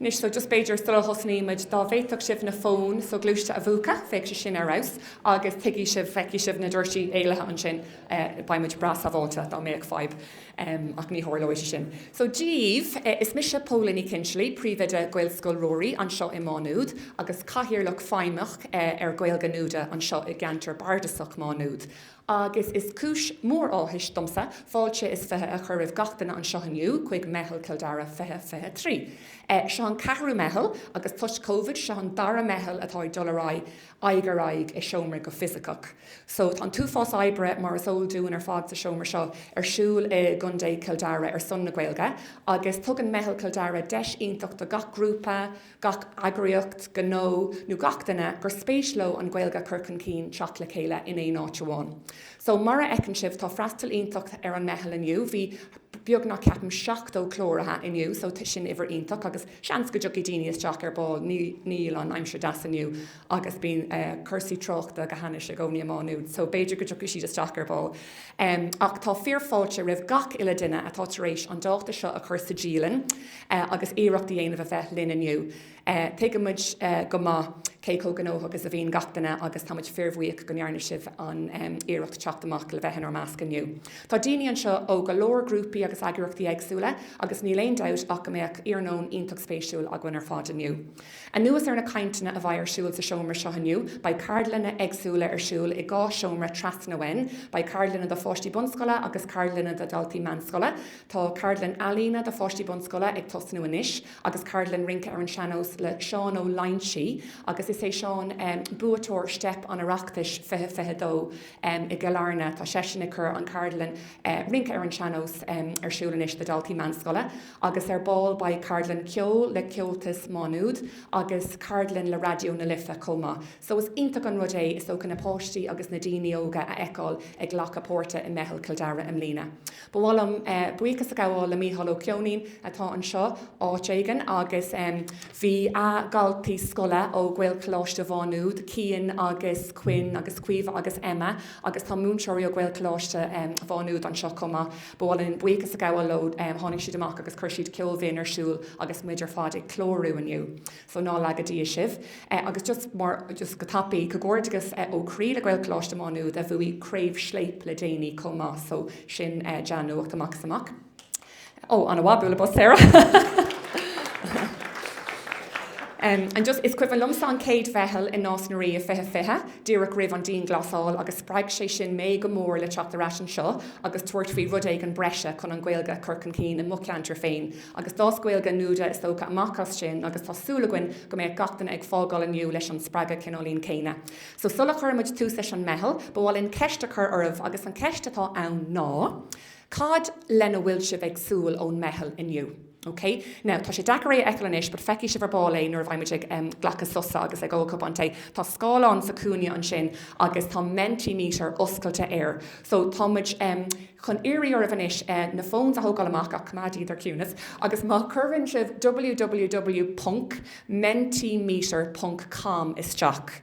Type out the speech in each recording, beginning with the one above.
Anois, just b'fhéidir sula dtosnaímid, dá bhféadfadh sibh na fóin shoghluaiste a mhúchadh, bheadh sé sin ar fheabhas agus tuigfidh sibh, feicfidh sibh na doirsí éalaithe ansin, beidh muid breá sábháilte dá mbeadh fadhb, ach ní tharlóidh sé sin. So, díbh, is mise Póla Ní Chinsealaigh, príomhoide Ghaelscoil Ruairí anseo i Má Nuad agus cathaoirleach feidhmeach ar Gaeilge Nuada anseo i gceantar bardasach Má Nuad. agus is cúis mhór áthais domsa fáilte is fiche a chur roimh gach duine anseo inniu chuig Meitheal Chill Dara 2023. Seo an ceathrú Meitheal agus toisc Covid, seo an dara Meitheal atá ag dul ar aghaidh, aghaidh ar aghaidh i seomra go fisiceach. So tá an t-uafás oibre, mar is eol dúinn ar fad sa seomra seo, ar siúl i gContae Chill Dara ar son na Gaeilge agus tugann Meitheal Chill Dara deis iontach do gach grúpa, gach eagraíocht, gnó nó gach duine gur spéis leo an Ghaeilge a chur chun cinn teacht le chéile in aon áit amháin. So, mar a fheiceann sibh, tá freastal iontach ar an Meitheal inniu. Bhí beagnach, ceapaim, 70 cláraithe inniu so sin uimhir iontach agus seans go dtiocfaidh daoine isteach ar ball, níl an aimsir deas inniu. agus bíonn cúrsaí tráchta go hainnis i gcónaí i Má Nuad so b'fhéidir go dtiocfaidh siad isteach ar ball. Ach tá fíorfháilte roimh gach uile duine atá tar éis an dáta seo a chur sa dialann agus iarracht a dhéanamh a bheith linn inniu. Tuigimid go maith cé chomh gnóthach is a bhíonn gach duine agus táimid fíorbhuíoch go ndearna sibh an iarracht teacht amach le bheith inár measc inniu. Tá daoine anseo ó go leor grúpaí agus eagraíochtaí éagsúla agus níl aon dabht ach go mbeadh iarnóin iontach spéisiúil againn ar fad inniu. Anuas ar na cainteanna a bheidh ar siúl sa seomra seo inniu, beidh ceardlanna éagsúla ar siúl i ndá sheomra trasna uainn. Beidh ceardlanna do pháistí bunscoile agus ceardlanna do dhaltaí meánscoile. Tá ceardlann ealaíne do pháistí bunscoile ag tosnú anois agus ceardlann rince ar an seannós le Seán Ó Loingsigh agus is é Seán buaiteoir Steip an Oireachtais 2022 i gCill Airne. Tá seisean ag cur an cheardlann rince ar an seannós ar siúl anois do dhaltaí meánscoile. agus ar ball beidh ceardlann ceoil le Comhaltas Má Nuad agus ceardlann le Raidió na Life chomh maith. So is iontach an rud é, is dócha, na páistí agus na daoine óga a fheiceáil ag glacadh páirte i Meitheal Chill Dara i mbliana. Ba mhaith liom buíochas a ghabháil le Micheál Ó Ceoinín atá anseo áit éigin agus bhí a chuid daltaí scoile ó Ghaelcholáiste Mhá Nuad, Cian agus Quinn agus Caoimhe agus Emma agus tá múinteoirí ó Ghaelcholáiste Mhá Nuad anseo chomh maith. Ba mhaith linn buíochas a ghabháil leo. Tháinig siad amach agus chuir siad ceol bhinn ar siúl agus muid ar fad ag clárú inniu. So ná laga Dia sibh. Agus just mar, just go tapaidh, comhghairdeagas ó chroí le Gaelcholáiste Má Nuad a bhuaigh Craobh Scléip le déanaí chomh maith. So sin dea-nuacht amach is amach. Oh, ana-mhaith, bualadh bos Sarah! Em, and just, is cuimhin liomsa an chéad Mheitheal i Nás na Ríogh fiche fiche, díreach roimh an dianghlasáil agus spreag sé sin mé go mór le teacht ar ais anseo agus tabhairt faoi rud éigin breise chun an Ghaeilge a chur chun cinn i mo cheantar féin. Agus d'fhás Gaeilge Nuada is dócha amach as sin agus tá súil againn go mbeidh gach duine ag fágáil inniu leis an spreagadh cineáilín céanna. So sula chuireann muid tús leis an Meitheal, ba mhaith linn ceist a chur oraibh agus an cheist atá ann ná, cad lena bhfuil sibh ag súil ón Meitheal inniu? OK, now, tá sé deacair é a fheiceáil anois, but feicfidh sibh ar ball é nuair a bheidh muid ag, em, glacadh sosa agus ag ól cupán tae. Tá scáileán sa chúinne ansin agus tá Mentimeter oscailte air. So, tá muid, em, chun iarraidh oraibh anois, eh, na fóns a thógáil amach, ach coimeád iad ar ciúnas, agus má scríobhann sibh www ponc mentimeter ponc com isteach,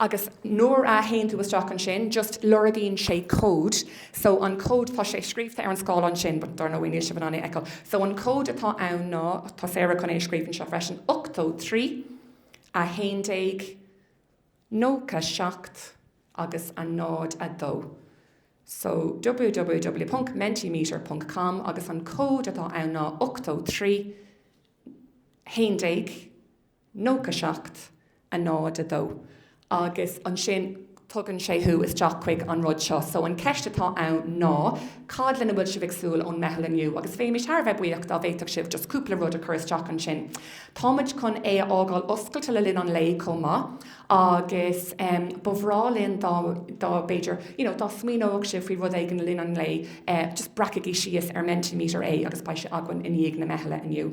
Agus nuair a théann tú isteach ansin, just lorgaíonn sé cód. So an cód, tá sé scríobhta ar an scáileán sin but dar ndóigh níl sibh in ann é a fheiceáil. So an cód atá ann ná, tá Sarah chun é a scríobh anseo freisin, ochtó trí, a haon déag, nócha seacht agus a náid a dó. So www ponc mentimeter ponc com agus an cód atá ann ná ochtó trí, haon déag, nócha seacht, a náid a dó, agus ansin tugann sé thú isteach chuig an rud seo. So an cheist atá ann ná cad lena bhfuil sibh ag súil ón Meitheal inniu? Agus bheimis thar a bheith buíoch dá bhféadfadh sibh just cúpla rud a chur isteach ansin. Tá muid chun é a fhágáil oscailte le linn an lae chomh maith agus ba bhreá linn dá dá b'fhéidir you know dá smaoineodh sibh faoi rud éigin le linn an lae just breacaigí síos ar Mentimeter é agus beidh sé againn i ndiaidh na meithle inniu.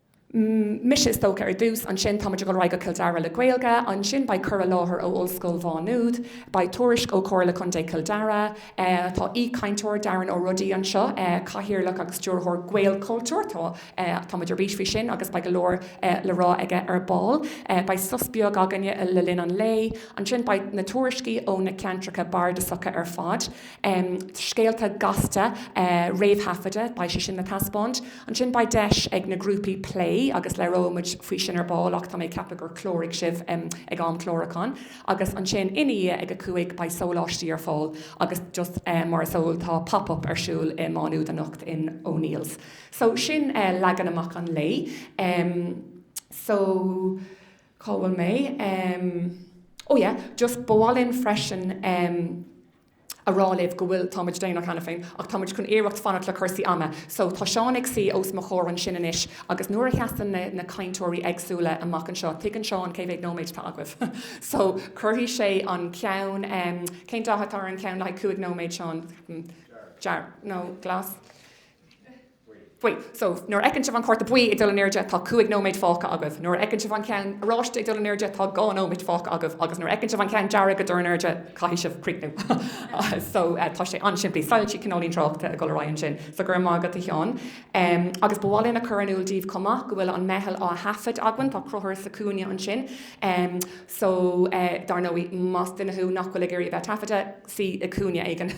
mise, is dócha, ar dtús, ansin tá muid ag dul ar aghaidh go Cill Dara le Gaeilge, ansin beidh cur i láthair ó Ollscoil Mhá Nuad, beidh tuairisc ó Chomhairle Contae Chill Dara, tá aoichainteoir, Darren Ó Rodaigh, anseo, cathaoirleach agus stiúrthóir Gaelchultúir, tá tá muid ar bís faoi sin agus beidh go leor le rá aige ar ball, beidh sos beag againne le linn an lae, ansin beidh na tuairiscí ó na ceantracha bardasacha ar fad. scéalta gasta réamhthaifeadta, beidh sé sin á dtaispeáint. Ansin beidh deis ag na grúpaí plé agus labhróidh muid faoi sin ar ball ach tá mé ag ceapadh gur chláraigh sibh ag am chlárúcháin. Agus ansin ina dhiaidh ag a cúig beidh sóláistí ar fáil agus just mar is eol tá Pop Up ar siúl i Má Nuad anocht in O'Neills. So sin leagan amach an lae. So cá bhfuil mé? Ó yeah, just ba mhaith linn freisin, a rá libh go bhfuil, tá muid déanach cheana féin ach tá muid chun iarracht fanacht le cúrsaí ama so tá Seán ag suí os mo chomhair ansin anois agus nuair a sheasann na na cainteoirí éagsúla amach anseo, tuigeann Seán cé mhéad nóiméid atá agaibh so cuirfidh sé an ceann, cén dath atá ar an cheann le haghaidh cúig nóiméad Seán? dearg nó glas? Buí. So, nuair a fheiceann sibh an Cárta Buí ag dul in airde, tá cúig nóiméad fágtha agaibh. Nuair a fheiceann sibh an ceann oráiste ag dul in airde, tá dhá nóiméad fágtha agaibh. Agus nuair a fheiceann sibh an ceann dearg ag dul in airde, caithfidh sibh críochnú. So, tá sé an-simplí. Soilse, cineál, an tráchta ag dul ar aghaidh ansin. So, go raibh maith agat, a Sheáin. Agus ba mhaith linn a chur in iúl daoibh chomh maith go bhfuil an meitheal á thaifead againn. Tá Crothar sa chúinne ansin. So, dar ndóigh, más duine thú nach bhfuil ag iarraidh a bheith taifeadta, suigh i gcúinne éigin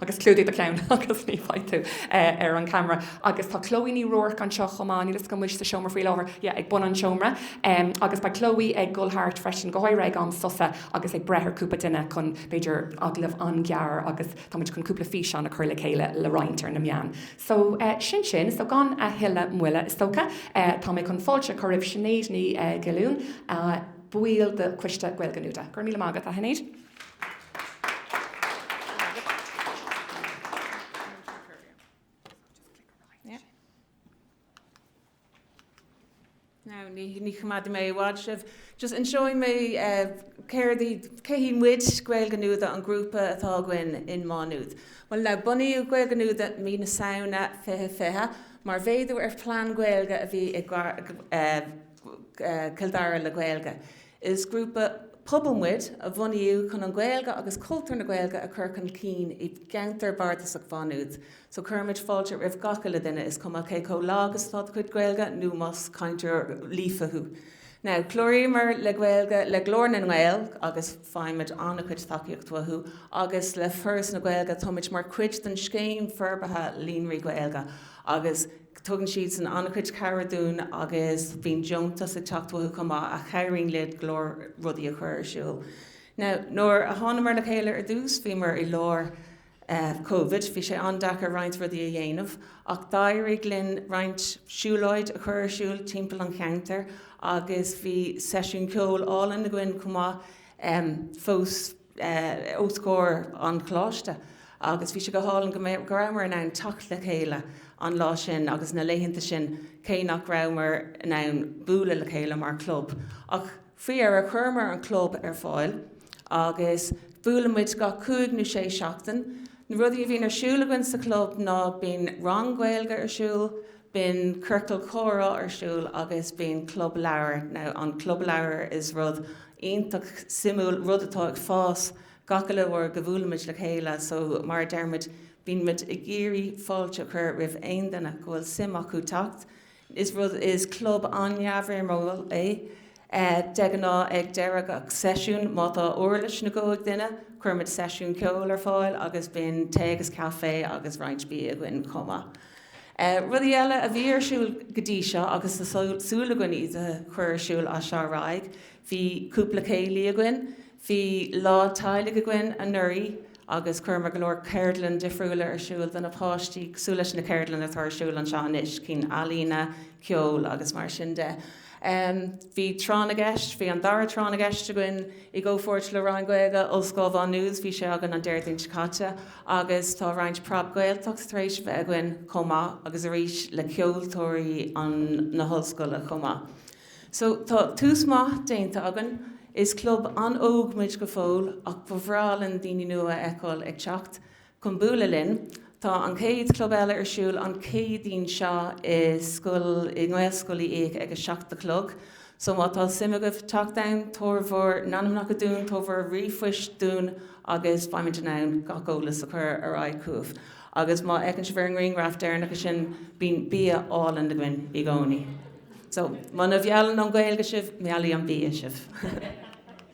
agus clúdaigh do cheann agus ní bheidh tú ar an camera. Agus tá Chloe Ní Ruairc anseo chomh maith, níl 'fhios agam an bhfuil sí sa seomra faoi láthair, yeah ag bun an tseomra. Agus beidh Chloe ag dul thart freisin, go háirithe ag am sosa agus ag breith ar chúpla duine chun b'fhéidir agallamh an-ghearr agus táimid chun cúpla físeán a chur le chéile le roinnt ar na meáin. So sin sin, so gan a thuilleadh moille is dócha, tá mé chun fáilte a chur roimh Sinéad Ní Ghiollúin, ball de choiste Gaeilge Nuada. Go raibh míle maith agat a Shinéad. Now, ní, ní choimeádfaidh mé i bhfad sibh. Just inseoidh mé eh, céard í, cé hí muid, Gaeilge Nuada, an grúpa atá againn in Má Nuad. Bhuel, now, bunaíodh Gaeilge Nuada mí na Samhna 2020 mar mhéadú ar phlean Gaeilge a bhí i eh, Cill Dara le Gaeilge. Is grúpa pobail muid a bunaíodh chun an Ghaeilge agus cultúr na Gaeilge a chur chun cinn i gceantar bardasach Mhá Nuad. So cuirimid fáilte roimh gach uile duine, is cuma cé chomh lag is atá do chuid Gaeilge nó más cainteoir líofa thú. Now, cláraíomar le Gaeilge le Glór na nGael agus faighimid an-chuid tacaíocht uathu agus le Foras na Gaeilge, táimid mar chuid den scéim forbartha Líonraí Gaeilge agus. Tugann siadsan an-chuid cabhrach dúinn agus bíonn deontas ag teacht uathu chomh maith a chabhraíonn linn go leor rudaí a chur ar siúl. Now, nuair a thánamar le chéile ar dtús, bhíomar i lár eh Covid, bhí sé an-deacair roinnt rudaí a dhéanamh ach d'éirigh linn roinnt siúlóidí a chur ar siúl timpeall an cheantair agus bhí seisiún ceoil álainn againn chomh maith em fós. os comhair an choláiste agus bhí sé go hálainn go rabhamar in ann teacht le chéile an lá sin agus na laethanta sin cé nach rabhamar in ann bualadh le chéile mar chlub ach faoi dheireadh chuireamar an club ar fáil agus buaileann muid gach cúig nó sé seachtain. Na rudaí a bhíonn ar siúl againn sa chlub ná bíonn rang Gaeilge ar siúl, Bíonn ciorcal comhrá ar siúl agus bíonn club leabhar. Now an club leabhar is rud iontach suimiúil, rud atá ag fás gach uile uair go mbuailimid le chéile. So mar a deir muid, bíonn muid ag iarraidh fáilte a chur roimh aon duine go bhfuil suim acu teacht. Is rud, is club an-neamhfhoirmiúil é. De ghnáth ag deireadh gach seisiúin, má tá uirlis nó guth ag duine, cuirimid seisiún ceoil ar fáil agus bíonn tae agus caife agus roinnt bia againn chomh maith. Rudaí eile a bhí ar siúl go dtí seo agus tá súil againn iad a chur ar siúl as seo ar aghaidh, bhí cúpla céilí againn, bhí lá teaghlaigh againn anuraidh agus chuireamar go leor ceardlann difriúla ar siúl do na páistí cosúil leis na ceardlann atá ar siúl anseo anois, cinn ealaíne, ceol agus mar sin de. Bhí tráth na gceist, bhí an dara tráth na gceist againn i gcomhpháirt le Roinn Gaeilge Ollscoil Mhá Nuad, bhí sé againn an Déardaoin seo caite, agus tá roinnt Preab Gaeltacht tar éis a bheith againn chomh maith agus arís le ceoltóirí na hollscoile chomh maith. So tá tús maith déanta againn. Is club an-óg muid go fóill ach ba bhreá linn daoine nua a fheiceáil ag teacht. Chun bualadh linn, tá an chéad Club eile ar siúl an Chéadaoin seo i, i nGaelscoil Uí Fhiaich ag a seacht a chlog. So má tá suim agaibh teacht ann, tabhair bhur n-ainmneacha dúinn, tabhair bhur ríomhphoist dúinn agus beimid in ann gach eolas a chur ar aghaidh chugaibh. Agus má fheiceann sibh ar an ngrianghraf deireanach ansin, bíonn bia álainn againn i gcónaí. So, muna mheallann an Ghaeilge sibh, meallfaidh an bia sibh!